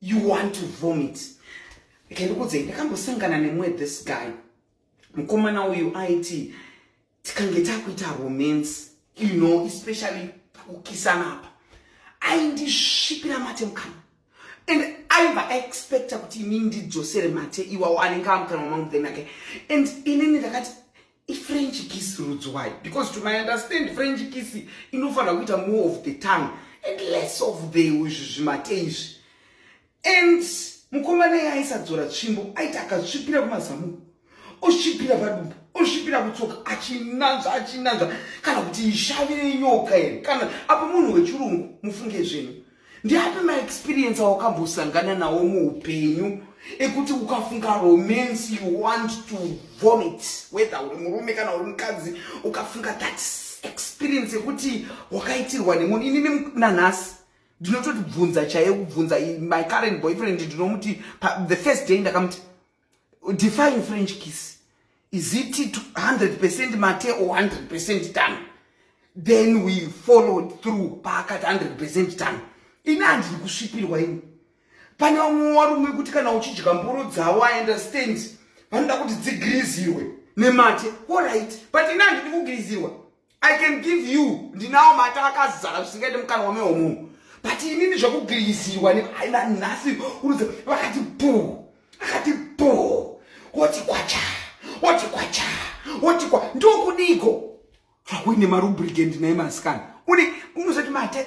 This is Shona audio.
you want to vomit okay ndikuudzei ndakambosangana nemumwe this guy mukomana uyu aiti tikange takuita romance you know especially pakukisana apa aindisvipira mate mukana and aiva aexpecta kuti ini ndidzosere mate iwawo anenge amukanwa mangu then ake and inini ndakati ifrench kiss rudzwai because to my understand french kiss inofanira kuita more of the tongue and less of the izvi zvimate izvi and mukomana iye aisadzora tsvimbo aiti akatsvipira kumazamu osvipira padumbu osvipira kutsoka achinanzva achinanzva kana kuti ishavire nyoka here kana apo munhu wechirungu mufunge zvenyu Ndiapi maexperience awakambosangana nawo muupenyu ekuti ukafunga romance you want to vomit whether uri murume kana uri mukadzi ukafunga that experience yekuti wakaitirwa nemunhu inini nanhasi ndinototi bvunza chaiye kubvunza my current boyfriend ndinomuti the first day ndakamuti define french kiss is it 100 mate or 100 done then we followed through paakati 100 done ini handiri kusvipirwa ini pane vamwe varume kuti kana uchidya mboro dzavo i understand vanoda kuti dzigrizirwe nemate orit but ini handidi kugrizirwa i can give you ndinawo mata akazara zvisingaite mukana wame womunhu but inini zvekugiriziwa neaina nhasi unozi vakati bhu akati bhu woti kwacha woti kwacha woti kwa ndokudiko hakuine marubrigend naye masikana une unozoti mate